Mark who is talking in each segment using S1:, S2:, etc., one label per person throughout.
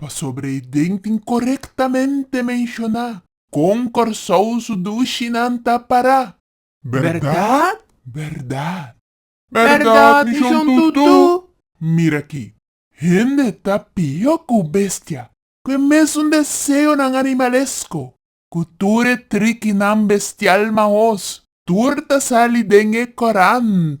S1: Pasobra e den tin korektamente menshoná kon Kòrsou su dushinan ta pará. Bèrdat? Bèrdat? Bèrdat, mi shon tutú! Mira akí, hende ta pió ku bestia, ku e mesun deseonan animalesko, ku tur e trikinan bestial maos, tur ta sali den e korant.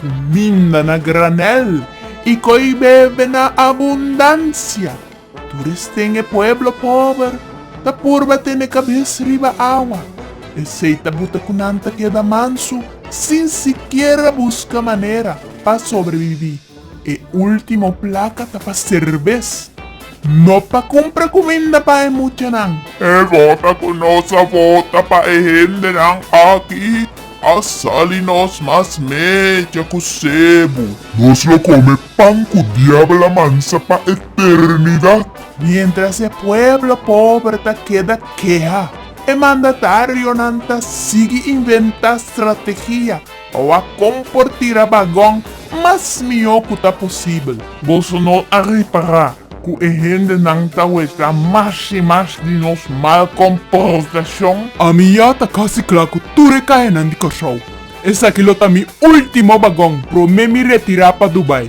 S1: Ku minda na granèl i koi bebe na abundansia. Tur esten e pueblo pober ta purba tene kabes riba awa. Esei ta buta ku nan ta keda mansu sin sikiera buska manera pa sobrebibí. E último plaka ta pa serbes, no pa kumpra kuminda pa e muchanan. E vota ku nos a vota pa e hendenan aki A sali nos mas mecha ku sebu. Nos lo kome pan ku diabel a mansa pa eternidat. Mientras e pueblo pober ta keda keha, e mandatarionan ta sigui inventá strategia pa wak kon por tira bagon mas mihó ku ta posibel. Boso no a repará ku e hendenan ta weka mas i mas di nos mal komportashon. Ami ya ta kasi kla ku tur e kaenan di Kòrsou. Esaki lo ta mi último bagon promé mi retirá pa Dubai.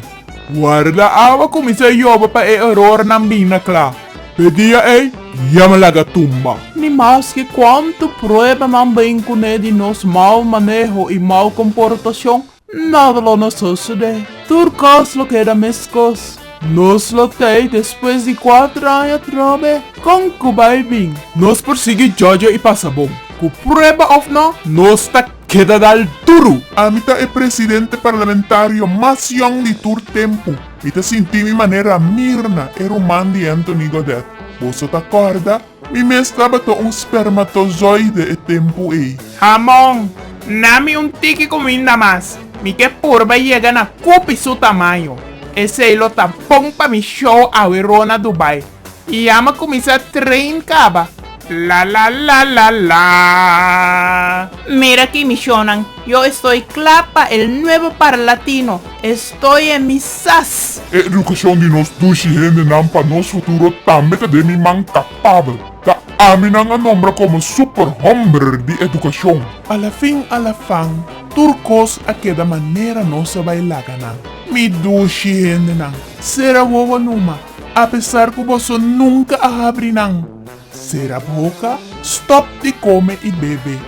S1: Warda awa kuminsá yoba pa e erornan bin na kla. P'e dia ei ya mi laga tumba. Ni maske kuantu pruebanan bin kuné di nos mau maneho i mau komportashon, Nada lo na sosode. Tur cos lo keda meskos. Nos lo tei despues di cuater aña trobe. Con cu bay bin? Nos por sigui jojo y pasa bon. Cu prueba of no, nos ta keda dal duru. Ami ta e presidente parlamentario mas yong di tur tempu. Mi ta sinti mi manera mirna e ruman di Anthony Godet. Boso ta corda? Mi mes tabata un spermatozoide e tempu ei. Hamon,
S2: na mi un tiki cuminda mas. Mi ke purba yega na cupi su tamaño. Esey lo ta bon pa mi show awe ro na Dubai. Y ya mi cuminsa train caba. Lalalalalaa. Mira aki
S3: mi shownan. Yo estoy cla pa el nuevo parlatino, estoy en mi sas! E educacion di nos
S1: dushi hendenan pa nos futuro tambe ta den mi man capabel. Ta ami nan a nombra como superhomber di educacion. A la fin a la fan, tur cos a keda manera nos a bay laga nan. Mi dushi hendenan, cera wowo numa, apesar cu boso nunca a habri nan. Sera boka, stop di come y bebe.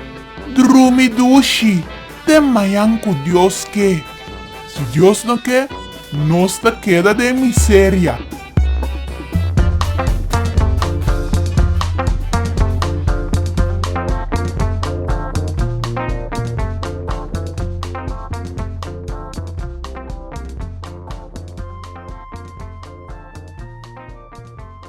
S1: Drumi dushi, den mayan cu Dios ke. Si Dios no ke, nos ta keda den miseria.